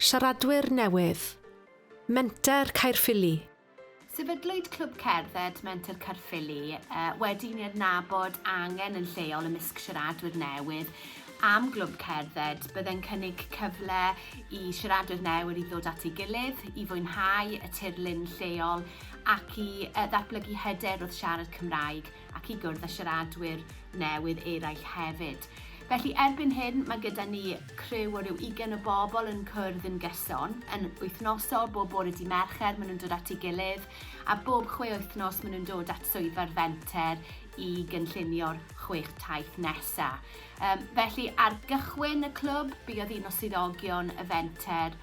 Siaradwyr newydd, Menter Caerffili. Sefydlwyd Clwb Cerdded Menter Caerffili wedi i ni adnabod angen yn lleol ymysg siaradwyr newydd am glwb cerdded. Byddai'n cynnig cyfle i siaradwyr newydd i ddod at ei gilydd, i fwynhau y tirlun lleol ac i ddatblygu hyder wrth siarad Cymraeg. ac i gwrdd â siaradwyr newydd eraill hefyd. Felly erbyn hyn mae gyda ni criw o ryw ugain o bobl yn cwrdd yn gyson, yn wythnosol, bob bore di Mercher maen nhw'n dod at ei gilydd, a bob chwe wythnos maen nhw'n dod at swyddfa'r fenter i gynllunio'r chwech taith nesaf. Um, felly ar gychwyn y clwb, buodd un o swyddogion y fenter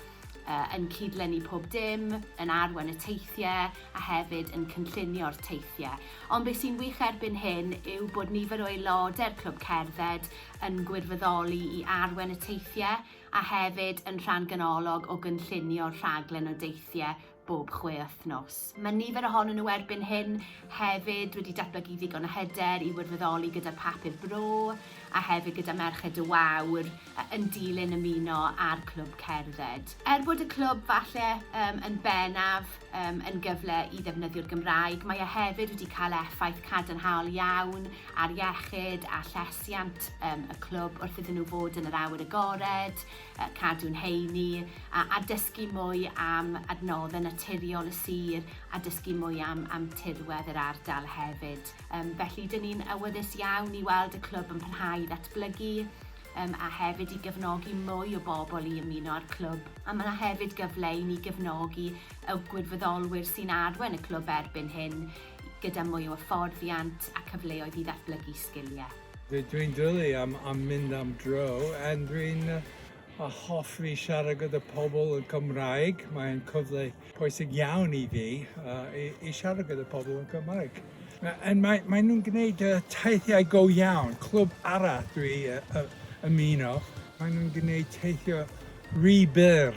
uh, yn cydlynu pob dim, yn arwen y teithiau a hefyd yn cynllunio'r teithiau. Ond beth sy'n wych erbyn hyn yw bod nifer o aelodau'r Clwb Cerdded yn gwirfoddoli i arwen y teithiau a hefyd yn rhan ganolog o gynllunio'r rhaglen o deithiau bob chwe wythnos. Mae nifer ohonyn nhw erbyn hyn hefyd wedi datblygu ddigon o hyder i wirfoddoli gyda'r papur bro a hefyd gyda Merched y Wawr yn dilyn ymuno â'r clwb cerdded. Er bod y clwb falle um, yn bennaf um, yn gyfle i ddefnyddio'r Gymraeg, mae e hefyd wedi cael effaith cadarnhaol iawn ar iechyd a llesiant um, y clwb wrth iddyn nhw fod yn yr awyr agored, cadw'n heini, a dysgu mwy am adnoddau naturiol y sir a dysgu mwy am am tirwedd yr ardal hefyd. Yym felly dyn ni'n awyddus iawn i weld y clwb yn parhau i ddatblygu yym a hefyd i gefnogi mwy o bobl i ymuno â'r clwb. A mae yna hefyd gyfle i ni gefnogi y gwirfoddolwyr sy'n arwain y clwb erbyn hyn gyda mwy o hyfforddiant a cyfleoedd i ddatblygu sgiliau. Dw i'n dwli am am mynd am dro and dw i'n hoffi siarad gyda pobl yn Cymraeg, mae'n cyfle pwysig iawn i fi yy i i siarad gyda pobl yn Cymraeg. Yy and mae mae nhw'n gwneud yy teithiau go iawn, clwb arall dw i yy yy ymuno, mae nhw'n gwneud teithio ry byr.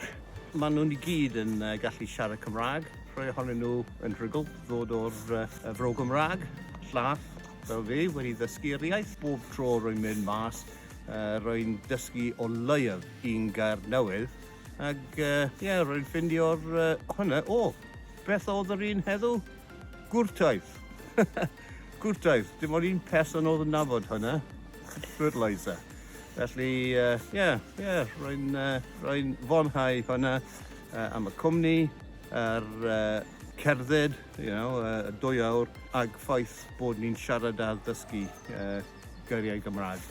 Mae nhw'n i gyd yn yy gallu siarad Cymraeg, rhai ohonyn nhw yn rhugl ddod o'r yy y Fro Gymraeg, llall. Fel fi, wedi ddysgu'r iaith bob tro rwy'n mynd mas, rwy'n dysgu o leiaf un gair newydd, ac ie, rwy'n ffeindio'r hwnna, o! Beth oedd yr un heddiw? Gwrtaith! Gwrtaith! Dim ond un person oedd yn nabod hwnna, fertiliser. Felly ie, ie, rwy'n fwynhau hwnna am y cwmni, yr cerdded. you know, uh, dwy awr ag ffaith bod ni'n siarad a ddysgu uh, geiriau Gymraeg.